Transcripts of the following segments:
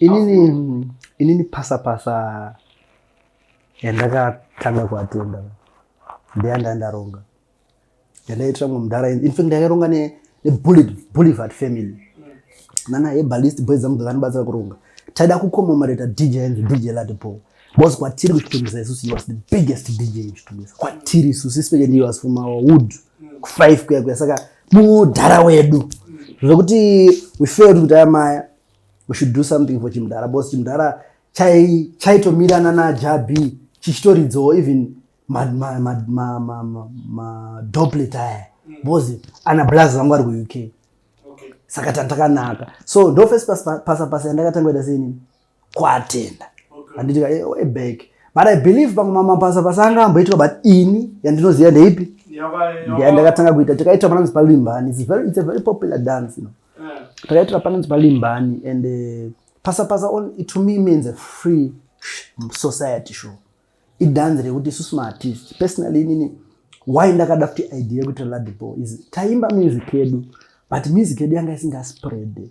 inini inini pasapasa yandakatanga kuatenda ndeyanda ndaronga yandaitira mwe mudhara infact ndakaronga nebolivat family nana ebalist boys dzangu dzakanibatsira kuronga taida kukomomoreta dj yanzi dj latipo Boss kwatiri kuchitumisa isusu you was the biggest DJ in kuchitumisa. Kwatiri isusu especially ndiyo was from our wood. Ku five kuya kuya saka mudhara wedu. Zvekuti we failed kuti amaya we should do something for chimudhara boss chimudhara chai chaitomirana na Jabi chichitoridzawo even ma ma ma ma ma, ma, ma doplet aya. Mm. Boss ana blaz vangu vari ku UK. Okay. Saka tandakanaka. So ndo first pasa pasa yandakatanga kuita sei nini? kuatenda handiti ka eh, way back but i believe pamwe mamabasa basa anga amboitwa but ini yandinoziva ndeipi ndiya ndakatanga kuita takaita pananzi palimbani it's very, it's a very popular dance you know? yeah. takaitira pananzi palimbani and uh, pasa pasa on it to me means a free society show idhanzi rekuti isusu maartist personally inini why ndakada kuti idea yekuti ladipo is taimba music yedu but music yedu yanga isingasipread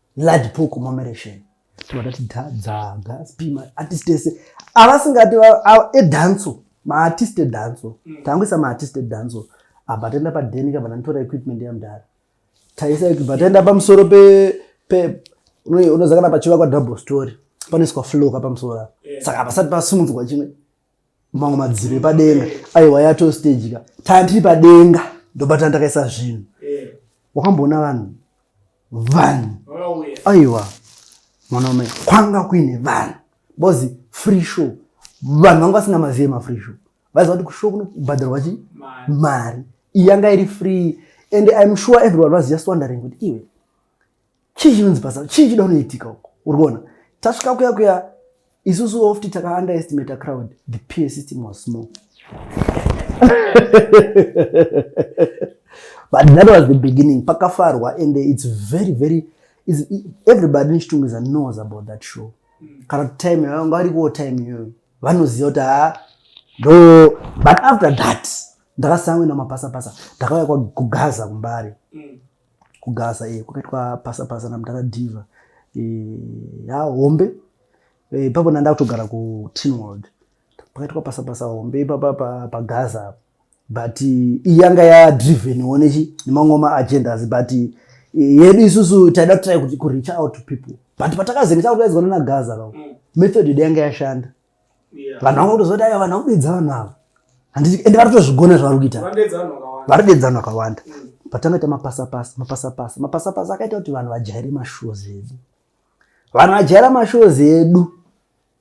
large pool commemoration vatati dzaga spima artist ese avasingati edanso maartist edanso mm. tangoisa maartist edanso apa taenda padeni kabva ndanitora equipment yamdara taisa equipment taenda pamusoro pe pe unozakana pachivakwa double story panoiswa flow kapamusoro saka pasati pasumunzwa chimwe mamwe madziro epadenga aiwa yato stage ka tanga tiri padenga ndobatana takaisa zvinhu eh. wakamboona vanhu vanhu aiwa mwanaume kwanga kuine vanhu because free show vanhu vanga vasina mazive mafree show vaiziva kuti kushow kunobhadharwa chi mari iyanga iri free and im sure everyone was just wondering kuti iwe chii chinonzi basa chii chida unoitika uko uri kuona tasvika kuya kuya isusu ofti taka underestimate crowd the peer system was small but that was the beginning pakafarwa and it's very very it's, everybody in chitungiza knows about that show kana kuti time yavo vari kuwo time iyoyo vanoziva kuti haa ah, ndo but after that ndakasangwe namapasapasa ndakauya kwakugaza kumbari mm. kugaza e, kwakaitwa pasa pasa namudhara diva e, ya hombe e, ipapo nanda kutogara kutinwald pakaitwa pasa pasa hombe ipapa pagaza pa, pa but iyanga yadriven onechi nemamwe maagendas but yedu isusu taida kutrai kuti kureach out to people but patakazenge takutaidzwa nanagaza vavo mm. method yedu yanga yashanda vanhu vanga kutozoti aiwa vanhu vakudedza vanhu ava handiti ende vari kutozvigona zvavari kuita vari dedzano akawanda mm. patanga ita mapasapasa mapasapasa mapasapasa akaita kuti vanhu vajaire mashows edu vanhu vajaira mashows edu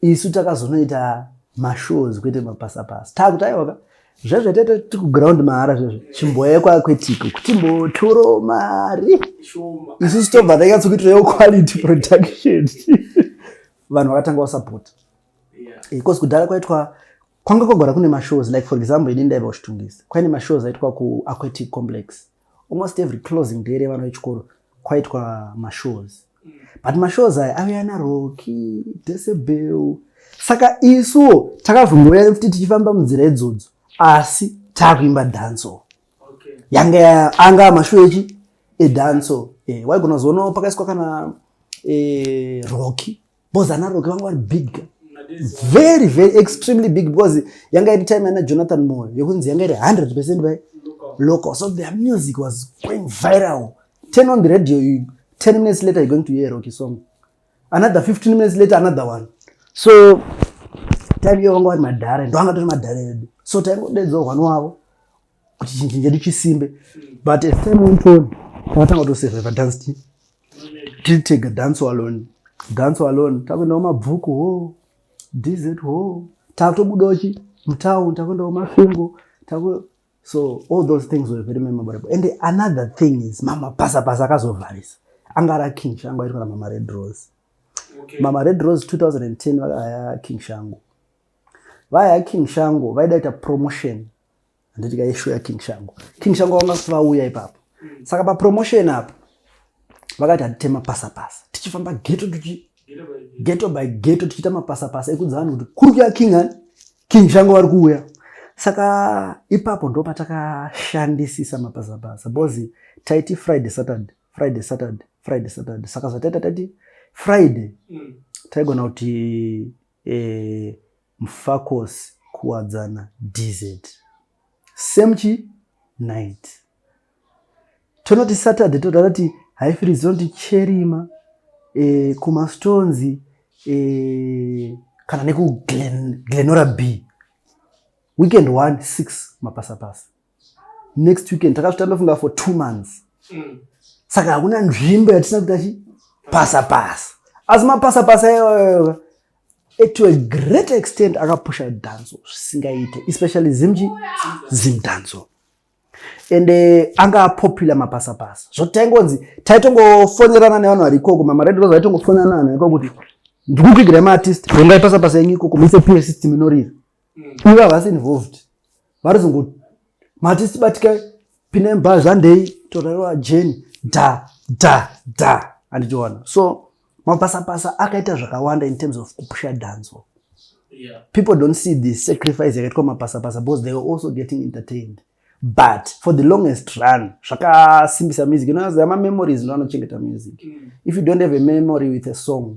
isu takazonoita mashows kwete mapasapasa takuti aiwaka zvezve tete tikuground mahara zvezve chimboye kwakwetiko kuti mbotoro mari isu sitobva takatsokuitira yo quality production vanhu vakatanga kusapota because eh, kudhara kwaitwa kwanga kwagara kune mashows like for example ini ndaiva kuchitungisa kwaine mashows aitwa kuaquatic complex almost every closing day revana vechikoro kwaitwa mashows mm. but mashows aya aviya naroki desebel saka isuwo takazongoya futi tichifamba munzira idzodzo asi taakuimba danso okay. yange anga mashuwa echi edanso e, waigona kuzoona pakaiswa kana e, roki bcause ana roki vanga vari big girl very very extremely big because yanga iri time yana jonathan moyo yekunzi yanga iri 100 percent by local so their music was going viral turn on the radio you, 10 minutes later you're going to hear a rocky song another 15 minutes later another one so time iyo vanga vari madhara ndo anga tori madhara edu so taingodedzwa hwani wavo kuti chinjini chedu chisimbe but as time went on takatanga kutosurviva dance team tiri tega dance alone dance alone takuendawo mabvuku ho dz ho takutobudawo chi mutown takuendawo mafingo so all those things were very memorable and another thing is mama pasa pasa akazovharisa anga ra king shangu aitwa na mama red rose okay. mama red rose 2010 vakaya king shangu vaya king shangu vaida ita promotion handiti ka yeshow ya king shangu king shangu vanga kuti vauya ipapo mm. saka pa promotion apo vakati hatitema pasa pasa tichifamba geto tuchi geto by geto tichiita mapasapasa ekudza vanhu kuti kuri kuya king ani king shango vari kuuya saka ipapo ndo patakashandisisa mapasapasa bcoz taiti friday saturday friday saturday friday saturday saka zvataita taiti friday mm. taigona kuti Eh mfakos kuwadzana dz same chi night tonoti saturday toda tati haifiri zinoti cherima eh, kumastonzi eh, kana nekuglenora b weekend 1 6 mapasapasa next weekend takasvita ndofunga for two months mm. saka hakuna nzvimbo yatisina kuti achi pasa pasa asi mapasa pasa iyoyoyo to a great extent akapusha danzo zvisingaite especially zimji zim danzo and uh, anga apopular mapasa pasa zvotaingonzi taitongofonerana nevanhu vari ikoko mamaredio vazo vaitongofonerana vanhu iko kuti ndikukuigirai maartist ungaipasa pasa yenyu ikoko muise pure system inorira mm. ivo havasi involved varizongo mati sibatika pinemba zvandei torewa jeni da da da andichiona so mapasapasa akaita zvakawanda in terms of kupusha dhanzo yeah. people don't see the sacrifice yakaitwa mapasapasa because they were also getting entertained but for the longest run zvakasimbisa music unoziva mamemories ndo anochengeta music mm. if you don't have a memory with a song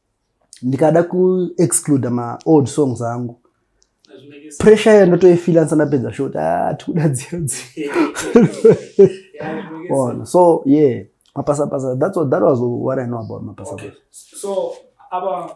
ndikada kuexcluda maold songs angu pressure iyo ndotoifila ndisana pedza shoti ah, tikuda dziodziona oh, so yeah mapasapasa that's what, that was what i know about mapasapasa okay. so, aba,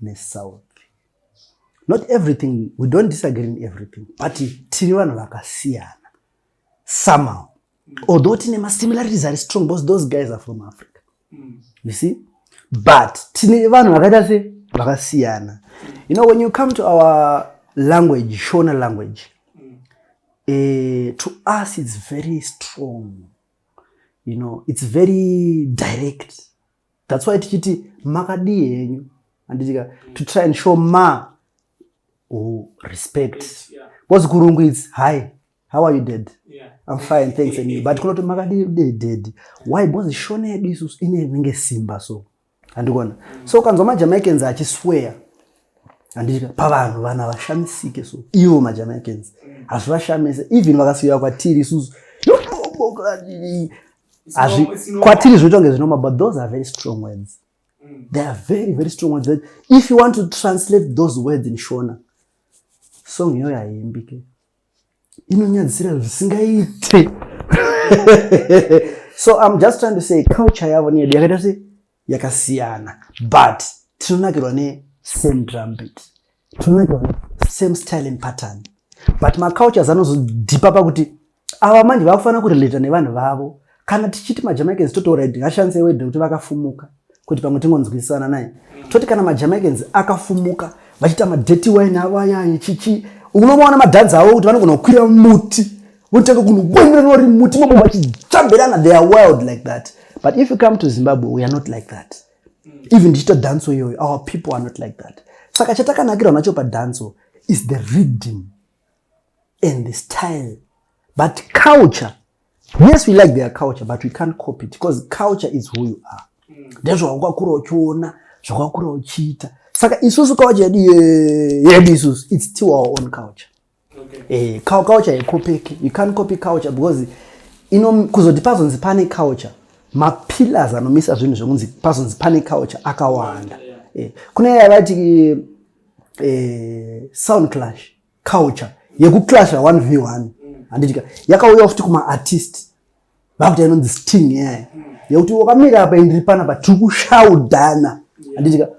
nesouth not everything we don't disagree in everything but tiri vanhu vakasiyana somehow although tine masimilarities ari strong because those guys are from africa mm. you see but tine vanhu vakaita se vakasiyana you know when you come to our language shona language mm. uh, to us it's very strong you know it's very direct That's why tichiti makadii henyu anditika to try and show ma oh, respect because kurungu it's hi how are you dead yeah. i'm fine thanks and you but kunoti makadii dead why because shona yedu isusu inenge simba so andikona mm. so ukanzwa majamaicans achisweya andika pavanhu vanhu havashamisike so ivo majamaicans mm. hazvivashamise even vakasiya kwatiri isusu kwatiri zvinoita kunge zvinoma but those are very strong words mm. they are very very strong words that if you want to translate those words in shona song iyoyo haiimbike inonyadzisira zvisingaite so i'm just trying to say culture yavo neyedu yakaita sei yakasiyana but tinonakirwa ne same drum beat tinonakirwa ne same style and pattern but macultures anozodhipa pakuti ava manje vakufanira kurelata nevanhu vavo kana tichiti majamaicans totaura ngashandise wede kuti vakafumuka kuti pamwe tingonzwisisana naye toti kana majamaicans akafumuka vachiita madheti wine avo ayaye chichi unomaona madhanzi avo kuti vanogona kukwira muti votanga kunogwemera nori muti mabo vachitsvambirana they are wild like that but if you come to zimbabwe we are not like that even ndichiita dhanso iyoyo our people are not like that saka chatakanakirwa nacho padhanso is the reading and the style but culture yes we like their culture but we can't copy it because culture is who you are ndezvawakakura uchiona zvawakakura uchiita saka isusu culture yedu yedu isusu it's still our own culture okay. eh, culture haikopeki you can't copy culture because ino kuzoti pazonzi pane culture mapillars anomisa zvinhu zvekunzi pazonzi pane culture akawanda yeah. eh, kune yavati eh, sound clash culture yekuclasha one v one mm. handitika mm. yakauya futi kumaartist vakuti inonzi sting yaya mm. yekuti wakamira apa indiri panapa tiri kushaudhana handitika yeah.